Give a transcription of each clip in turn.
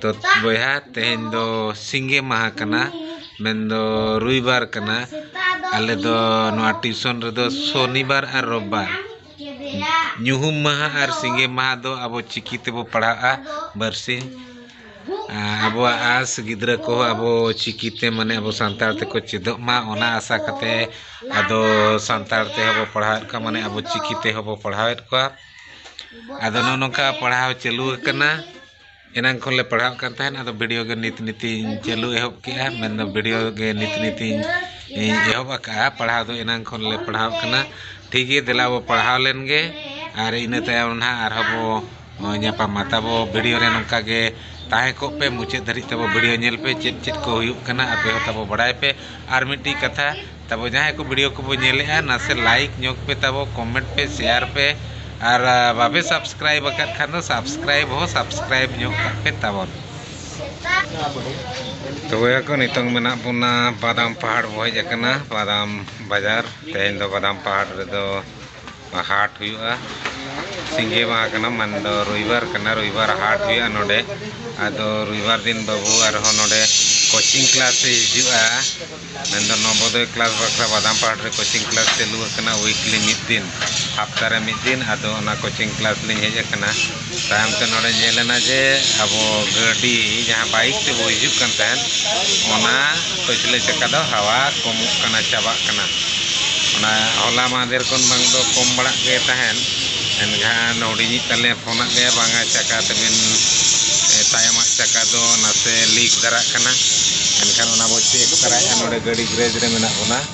ᱛᱚ ᱵᱚᱭᱦᱟ ᱛᱮᱦᱮᱧ ᱫᱚ ᱥᱤᱸᱜᱮ ᱢᱟᱦᱟ ᱠᱟᱱᱟ ᱢᱮᱱᱫᱚ ᱨᱚᱵᱤᱵᱟᱨ ᱠᱟᱱᱟ ᱟᱞᱮ ᱫᱚ ᱱᱚᱣᱟ ᱴᱤᱭᱩᱥᱚᱱ ᱨᱮᱫᱚ ᱥᱚᱱᱤᱵᱟᱨ ᱟᱨ ᱨᱚᱵᱤᱵᱟᱨ ᱧᱩᱦᱩᱢ ᱢᱟᱦᱟ ᱟᱨ ᱥᱤᱸᱜᱮ ᱢᱟᱦᱟ ᱫᱚ ᱟᱵᱚ ᱪᱤᱠᱤ ᱛᱮᱵᱚ ᱯᱟᱲᱦᱟᱜᱼᱟ ᱵᱟᱨᱥᱤᱧ ᱟᱵᱚᱣᱟᱜ ᱟᱥ ᱜᱤᱫᱽᱨᱟᱹ ᱠᱚ ᱟᱵᱚ ᱪᱤᱠᱤ ᱛᱮ ᱢᱟᱱᱮ ᱟᱵᱚ ᱥᱟᱱᱛᱟᱲ ᱛᱮᱠᱚ ᱪᱮᱫᱚᱜ ᱢᱟ ᱚᱱᱟ ᱟᱥᱟ ᱠᱟᱛᱮ ᱟᱫᱚ ᱥᱟᱱᱛᱟᱲ ᱛᱮᱦᱚᱸ ᱵᱚ ᱯᱟᱲᱦᱟᱣᱮᱫ ᱠᱚᱣᱟ ᱢᱟᱱᱮ ᱟᱵᱚ ᱪᱤᱠᱤ ᱛᱮᱦᱚᱸ ᱵᱚ ᱯᱟᱲᱦᱟᱣᱮᱫ ᱠᱚᱣᱟ ᱟᱫᱚ ᱱᱚᱜᱼᱚ ᱱᱚᱝᱠᱟ ᱯᱟᱲᱦᱟᱣ ᱪᱟᱹᱞᱩ ᱟᱠᱟᱱᱟ ᱮᱱᱟᱝ ᱠᱷᱚᱱᱞᱮ ᱯᱟᱲᱦᱟᱜ ᱠᱟᱱ ᱛᱟᱦᱮᱱ ᱟᱫᱚ ᱵᱷᱤᱰᱤᱭᱳ ᱜᱮ ᱱᱤᱛ ᱱᱤᱛᱤᱧ ᱪᱟᱹᱞᱩ ᱮᱦᱚᱵ ᱠᱮᱜᱼᱟ ᱢᱮᱱ ᱫᱚ ᱵᱷᱤᱰᱤᱭᱳ ᱜᱮ ᱱᱤᱛ ᱱᱤᱛᱤᱧ ᱮᱦᱚᱵ ᱟᱠᱟᱫᱼᱟ ᱯᱟᱲᱦᱟᱣ ᱫᱚ ᱮᱱᱟᱝ ᱠᱷᱚᱱ ᱞᱮ ᱯᱟᱲᱦᱟᱣ ᱠᱟᱱᱟ ᱴᱷᱤᱠ ᱜᱮᱭᱟ ᱫᱮᱞᱟ ᱵᱚᱱ ᱯᱟᱲᱦᱟᱣ ᱞᱮᱱ ᱜᱮ ᱟᱨ ᱤᱱᱟᱹ ᱛᱟᱭᱚᱢ ᱦᱟᱸᱜ ᱟᱨ ᱦᱚᱸ ᱵᱚᱱ ᱧᱟᱯᱟᱢᱟ ᱛᱟᱵᱚ ᱵᱷᱤᱰᱤᱭᱳ ᱨᱮ ᱱᱚᱝᱠᱟ ᱜᱮ ᱛᱟᱦᱮᱸ ᱠᱚᱜ ᱯᱮ ᱢᱩᱪᱟᱹᱫ ᱫᱷᱟᱹᱨᱤᱡ ᱛᱟᱵᱚ ᱵᱷᱤᱰᱤᱭᱳ ᱧᱮᱞ ᱯᱮ ᱪᱮᱫ ᱪᱮᱫ ᱠᱚ ᱦᱩᱭᱩᱜ ᱠᱟᱱᱟ ᱟᱯᱮ ᱦᱚᱸ ᱛᱟᱵᱚ ᱵᱟᱲᱟᱭ ᱯᱮ ᱟᱨ ᱢᱤᱫᱴᱤᱡ ᱠᱟᱛᱷᱟ ᱛᱟᱵᱚ ᱡᱟᱦᱟᱸᱭ ᱠᱚ ᱵᱷᱤᱰᱤᱭᱳ ᱠᱚᱵᱚ ᱧᱮᱞᱮᱜᱼᱟ ᱱᱟᱥᱮ ᱞᱟᱭᱤᱠ ᱧᱚᱜᱽ ᱯᱮ ᱛᱟᱵᱚ ᱠᱚᱢᱮᱱᱴ ᱯᱮ ᱥᱮᱭᱟᱨ ᱯᱮ ᱟᱨ ᱵᱟᱯᱮ ᱥᱟᱵᱥᱠᱨᱟᱭᱤᱵ ᱟᱠᱟᱫ ᱠᱷᱟᱱ ᱫᱚ ᱥᱟᱵᱥᱠᱨᱟᱭᱤᱵ ᱦᱚᱸ ᱥᱟᱵᱥᱠᱨᱟᱭᱤᱵ ᱧᱚᱜ ᱠᱟᱜ ᱯᱮ ᱛᱟᱵᱚᱱ ᱛᱚ ᱵᱚᱭᱦᱟ ᱠᱚ ᱱᱤᱛᱚᱝ ᱢᱮᱱᱟᱜ ᱵᱚᱱᱟ ᱵᱟᱫᱟᱢ ᱯᱟᱦᱟᱲ ᱵᱚ ᱦᱮᱡ ᱟᱠᱟᱱᱟ ᱵᱟᱫᱟᱢ ᱵᱟᱡᱟᱨ ᱛᱮᱦᱮᱧ ᱫᱚ ᱵᱟᱫᱟᱢ ᱯᱟᱦᱟᱲ ᱨᱮᱫᱚ ᱦᱟᱴ ᱦᱩᱭᱩᱜᱼᱟ ᱥᱤᱸᱜᱮ ᱢᱟᱦᱟ ᱠᱟᱱᱟ ᱢᱟᱱ ᱫᱚ ᱨᱚᱵᱤᱵᱟᱨ ᱠᱟᱱᱟ ᱨᱚᱵᱤᱵᱟᱨ ᱦᱟᱴ ᱦᱩᱭᱩᱜᱼᱟ ᱱᱚᱰᱮ ᱟᱫᱚ ᱨᱚᱵᱤᱵᱟᱨ ᱫᱤᱱ ᱵᱟᱹᱵᱩ ᱟᱨᱦᱚᱸ ᱱᱚᱰᱮ ᱠᱳᱪᱤᱝ ᱠᱞᱟᱥ ᱮ ᱦᱤᱡᱩᱜᱼᱟ ᱢᱮᱱ ᱫᱚ ᱱᱚᱵᱚᱫᱚᱭ ᱠᱞᱟᱥ ᱵᱟᱠᱷᱨᱟ ᱵᱟᱫᱟᱢ ᱯᱟᱦᱟᱲ ᱨᱮ ᱠᱳᱪᱤᱝ ᱠᱞᱟᱥ ᱪᱟᱹᱞᱩ ᱟᱠᱟᱱᱟ ᱩᱭᱤᱠᱞᱤ ᱢᱤᱫ ᱫᱤᱱ ᱦᱟᱯᱛᱟ ᱨᱮ ᱢᱤᱫ ᱫᱤᱱ ᱟᱫᱚ ᱚᱱᱟ ᱠᱳᱪᱤᱝ ᱠᱞᱟᱥ ᱞᱤᱧ ᱦᱮᱡ ᱟᱠᱟᱱᱟ ᱛᱟᱭᱚᱢ ᱛᱮ ᱱᱚᱰᱮ ᱧᱮᱞ ᱮᱱᱟ ᱡᱮ ᱟᱵᱚ ᱜᱟᱹᱰᱤ ᱡᱟᱦᱟᱸ ᱵᱟᱭᱤᱠ ᱛᱮ ᱵᱚ ᱦᱤᱡᱩᱜ ᱠᱟᱱ ᱛᱟᱦᱮᱸᱫ ᱚᱱᱟ ᱯᱟᱹᱪᱷᱞᱟᱹ ᱪᱟᱠᱟ ᱫᱚ ᱦᱟᱣᱟ ᱠᱚᱢᱚᱜ ᱠᱟᱱᱟ ᱪᱟᱵᱟᱜ ᱠᱟᱱᱟ ᱚᱱᱟ ᱦᱚᱞᱟ ᱢᱟᱦᱫᱮᱨ ᱠᱷᱚᱱ ᱵᱟᱝ ᱫᱚ ᱠᱚᱢ ᱵᱟᱲᱟᱜ ᱜᱮ ᱛᱟᱦᱮᱸᱫ ᱮᱱᱠᱷᱟᱱ ᱦᱩᱰᱤᱧᱤᱡ ᱛᱟᱞᱮ ᱯᱷᱳᱱ ᱟᱫ ᱞᱮᱭᱟ ᱵᱟᱝᱟ ᱪᱟᱠᱟ ᱛᱟᱹᱵᱤᱱ ᱛᱟᱭᱚᱢᱟᱜ ᱪᱟᱠᱟ ᱫᱚ ᱱᱟᱥᱮ ᱞᱤᱠ ᱫᱷᱟᱨᱟᱜ ᱠᱟᱱᱟ ᱮᱱᱠᱷᱟᱱ ᱚᱱᱟ ᱵᱚ ᱪᱮᱠ ᱛᱟᱨᱟᱭᱮᱫᱼᱟ ᱱᱚᱰᱮ ᱜᱟᱹᱰᱤ ᱜᱮᱨᱮᱡᱽ ᱨᱮ ᱢᱮᱱᱟᱜ ᱵᱚᱱᱟ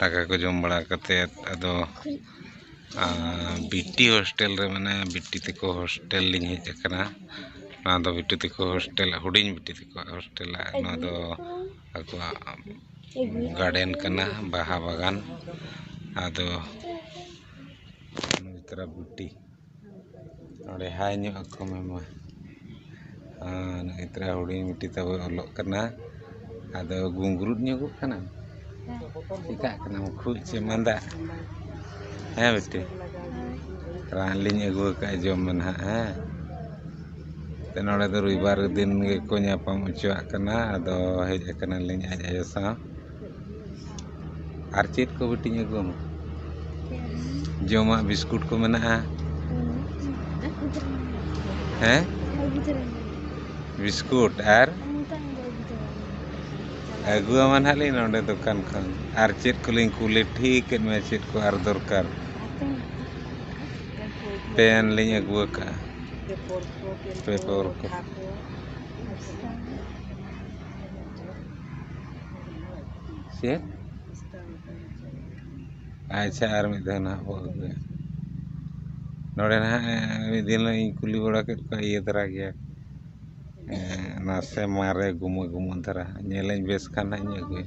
ᱫᱟᱠᱟ ᱠᱚ ᱡᱚᱢ ᱵᱟᱲᱟ ᱠᱟᱛᱮᱫ ᱟᱫᱚ ᱵᱤᱴᱤ ᱦᱳᱥᱴᱮᱞ ᱨᱮ ᱢᱟᱱᱮ ᱵᱤᱴᱤ ᱛᱮᱠᱚ ᱦᱳᱥᱴᱮᱞ ᱞᱤᱧ ᱦᱮᱡ ᱟᱠᱟᱱᱟ ᱱᱚᱣᱟ ᱫᱚ ᱵᱤᱴᱤ ᱛᱮᱠᱚ ᱦᱳᱥᱴᱮᱞ ᱦᱩᱰᱤᱧ ᱵᱤᱴᱤ ᱛᱮᱠᱚᱣᱟᱜ ᱦᱳᱥᱴᱮᱞ ᱱᱚᱣᱟ ᱫᱚ ᱟᱠᱚᱣᱟᱜ ᱜᱟᱨᱰᱮᱱ ᱠᱟᱱᱟ ᱵᱟᱦᱟ ᱵᱟᱜᱟᱱ ᱟᱫᱚ ᱱᱚᱣᱟ ᱛᱟᱨᱟ ᱵᱤᱴᱤ ᱱᱚᱰᱮ ᱦᱟᱭ ᱧᱚᱜ ᱟᱠᱚ ᱢᱮ ᱢᱟ ᱟᱨ ᱱᱩᱭ ᱛᱷᱚᱲᱟ ᱦᱩᱰᱤᱧ ᱵᱤᱴᱤ ᱛᱟᱵᱚᱭ ᱚᱞᱚᱜ ᱠᱟᱱᱟ ᱟᱫᱚ ᱜᱩᱝᱜᱽᱨᱩᱫ ᱧᱚᱜᱚᱜ ᱠᱟᱱᱟᱢ ᱪᱤᱠᱟᱹᱜ ᱠᱟᱱᱟᱢ ᱠᱷᱩᱜ ᱪᱮ ᱢᱟᱸᱫᱟ ᱦᱮᱸ ᱵᱤᱴᱤ ᱨᱟᱱ ᱞᱤᱧ ᱟᱹᱜᱩ ᱟᱠᱟᱫᱼᱟ ᱡᱚᱢ ᱢᱮ ᱱᱟᱦᱟᱜ ᱦᱮᱸ ᱛᱚ ᱱᱚᱰᱮ ᱫᱚ ᱨᱚᱵᱤᱵᱟᱨ ᱫᱤᱱ ᱜᱮᱠᱚ ᱧᱟᱯᱟᱢ ᱦᱚᱪᱚᱣᱟᱜ ᱠᱟᱱᱟ ᱟᱫᱚ ᱦᱮᱡ ᱠᱟᱱᱟᱞᱤᱧ ᱟᱡ ᱟᱭᱳ ᱥᱟᱶ ᱟᱨ ᱪᱮᱫ ᱠᱚ ᱵᱤᱴᱤᱧ ᱟᱹᱜᱩ ᱟᱢᱟ ᱡᱚᱢᱟᱜ ᱵᱤᱥᱠᱩᱴ ᱠᱚ ᱢᱮᱱᱟᱜᱼᱟ ᱦᱮᱸ ᱵᱤᱥᱠᱩᱴ ᱟᱨ ᱟᱹᱜᱩ ᱟᱢᱟ ᱱᱟᱦᱟᱸᱜ ᱞᱤᱧ ᱱᱚᱰᱮ ᱫᱚᱠᱟᱱ ᱠᱷᱚᱱ ᱟᱨ ᱪᱮᱫ ᱠᱚᱞᱤᱧ ᱠᱩᱞᱤ ᱴᱷᱤᱠ ᱮᱫ ᱢᱮᱭᱟ ᱪᱮᱫ ᱠᱚ ᱟᱨ ᱫᱚᱨᱠᱟᱨ ᱯᱮᱱ ᱞᱤᱧ ᱟᱹᱜᱩ ᱟᱠᱟᱫᱼᱟ ᱯᱮᱯᱟᱨ ᱠᱚ ᱪᱮᱫ ᱟᱪᱪᱷᱟ ᱟᱨ ᱢᱤᱫ ᱫᱷᱟᱣ ᱱᱟᱦᱟᱜ ᱵᱚᱱ ᱟᱹᱜᱩᱭᱟ ᱱᱚᱰᱮ ᱱᱟᱦᱟᱜ ᱢᱤᱫ ᱫᱤᱱ ᱦᱤᱞᱳᱜ ᱤᱧ ᱠᱩᱞᱤ ᱵᱟᱲᱟ ᱠᱮᱫ ᱠᱚᱣᱟ ᱤᱭᱟᱹ ᱫᱷᱟᱨᱟ ᱜᱮᱭᱟ ᱱᱟᱥᱮ ᱢᱟᱨᱮ ᱜᱩᱢᱟᱹ ᱜᱩᱢᱟᱹ ᱫᱷᱟᱨᱟ ᱧᱮᱞᱟᱹᱧ ᱵᱮᱥ ᱠᱷᱟᱱ ᱱᱟᱦᱟᱜ ᱤᱧ ᱟᱹᱜᱩᱭᱟ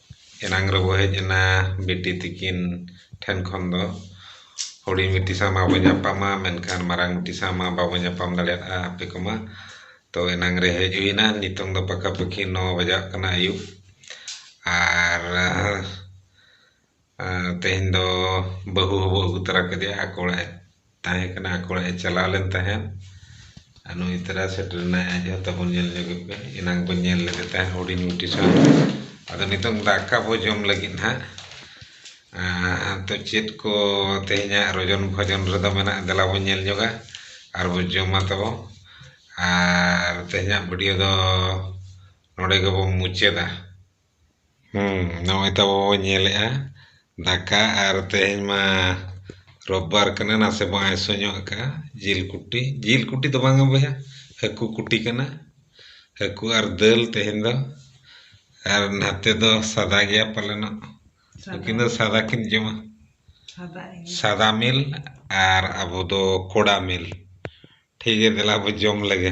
ᱮᱱᱟᱝ ᱨᱮᱵᱚ ᱦᱮᱡ ᱮᱱᱟ ᱵᱤᱴᱤ ᱛᱤᱠᱤᱱ ᱴᱷᱮᱱ ᱠᱷᱚᱱ ᱫᱚ ᱦᱩᱰᱤᱧ ᱵᱤᱴᱤ ᱥᱟᱶ ᱢᱟᱵᱚ ᱧᱟᱯᱟᱢᱟ ᱢᱮᱱᱠᱷᱟᱱ ᱢᱟᱨᱟᱝ ᱵᱤᱴᱤ ᱥᱟᱶ ᱢᱟ ᱵᱟᱵᱚ ᱧᱟᱯᱟᱢ ᱫᱟᱲᱮᱭᱟᱜᱼᱟ ᱟᱯᱮ ᱠᱚᱢᱟ ᱛᱚ ᱮᱱᱟᱝ ᱨᱮ ᱦᱮᱡ ᱦᱩᱭ ᱮᱱᱟ ᱱᱤᱛᱚᱝ ᱫᱚ ᱯᱟᱠᱟ ᱯᱟᱠᱤ ᱱᱚ ᱵᱟᱡᱟᱜ ᱠᱟᱱᱟ ᱟᱹᱭᱩᱵ ᱟᱨ ᱛᱮᱦᱮᱧ ᱫᱚ ᱵᱟᱹᱦᱩ ᱦᱚᱵᱚ ᱟᱹᱜᱩ ᱛᱚᱨᱟ ᱠᱮᱫᱮᱭᱟ ᱟᱠᱚ ᱚᱲᱟᱜ ᱛᱟᱦᱮᱸ ᱠᱟᱱᱟ ᱟᱠᱚ ᱚᱲᱟᱜ ᱮ ᱪᱟᱞᱟᱣ ᱞᱮᱱ ᱛᱟᱦᱮᱸᱫ ᱟᱨ ᱱᱩᱭ ᱛᱟᱨᱟ ᱥᱮᱴᱮᱨ ᱮᱱᱟᱭ ᱟᱡ ᱦᱚᱸ ᱛᱟᱵᱚᱱ ᱧᱮᱞ ᱧᱚᱜᱮ ᱯᱮ ᱮᱱᱟᱝ ᱵᱚᱱ ᱧᱮᱞ ᱞᱮᱫᱮ ᱛᱟᱦᱮᱸᱫ ᱦᱩᱰᱤᱧ ᱢᱤᱫᱴᱤᱡ ᱥᱟᱶ ᱟᱫᱚ ᱱᱤᱛᱚᱝ ᱫᱟᱠᱟ ᱵᱚᱱ ᱡᱚᱢ ᱞᱟᱹᱜᱤᱫ ᱱᱟᱦᱟᱜ ᱟᱫᱚ ᱪᱮᱫ ᱠᱚ ᱛᱮᱦᱮᱧᱟᱜ ᱨᱚᱡᱚᱱ ᱵᱷᱚᱡᱚᱱ ᱨᱮᱫᱚ ᱢᱮᱱᱟᱜᱼᱟ ᱫᱮᱞᱟ ᱵᱚᱱ ᱧᱮᱞ ᱧᱚᱜᱟ ᱟᱨ ᱵᱚᱱ ᱡᱚᱢᱟ ᱛᱟᱵᱚ ᱟᱨ ᱛᱮᱦᱮᱧᱟᱜ ᱵᱷᱤᱰᱤᱭᱳ ᱫᱚ ᱱᱚᱰᱮ ᱜᱮᱵᱚᱱ ᱢᱩᱪᱟᱹᱫᱟ ᱦᱩᱸ ᱱᱚᱜᱼᱚᱭ ᱛᱚ ᱟᱵᱚ ᱵᱚ ᱧᱮᱞᱮᱜᱼᱟ ᱫᱟᱠᱟ ᱟᱨ ᱛᱮᱦᱮᱧ ᱢᱟ ᱨᱳᱵᱵᱟᱨ ᱠᱟᱱᱟ ᱱᱟᱥᱮ ᱵᱚ ᱟᱭᱥᱚ ᱧᱚᱜ ᱟᱠᱟᱜᱼᱟ ᱡᱤᱞ ᱠᱩᱴᱤ ᱡᱤᱞ ᱠᱩᱴᱤ ᱫᱚ ᱵᱟᱝᱟ ᱵᱚᱭᱦᱟ ᱦᱟᱹᱠᱩ ᱠᱩᱴᱤ ᱠᱟᱱᱟ ᱦᱟᱹᱠᱩ ᱟᱨ ᱫᱟᱹᱞ ᱛᱮᱦᱮᱧ ᱫᱚ ᱟᱨ ᱱᱟᱛᱮ ᱫᱚ ᱥᱟᱫᱟ ᱜᱮᱭᱟ ᱯᱟᱞᱮᱱᱚᱜ ᱩᱱᱠᱤᱱ ᱫᱚ ᱥᱟᱫᱟ ᱠᱤᱱ ᱡᱚᱢᱟ ᱥᱟᱫᱟ ᱢᱤᱞ ᱟᱨ ᱟᱵᱚ ᱫᱚ ᱠᱚᱲᱟ ᱢᱤᱞ ᱴᱷᱤᱠ ᱜᱮᱭᱟ ᱫᱮᱞᱟ ᱵᱚ ᱡᱚᱢ ᱞᱮᱜᱮ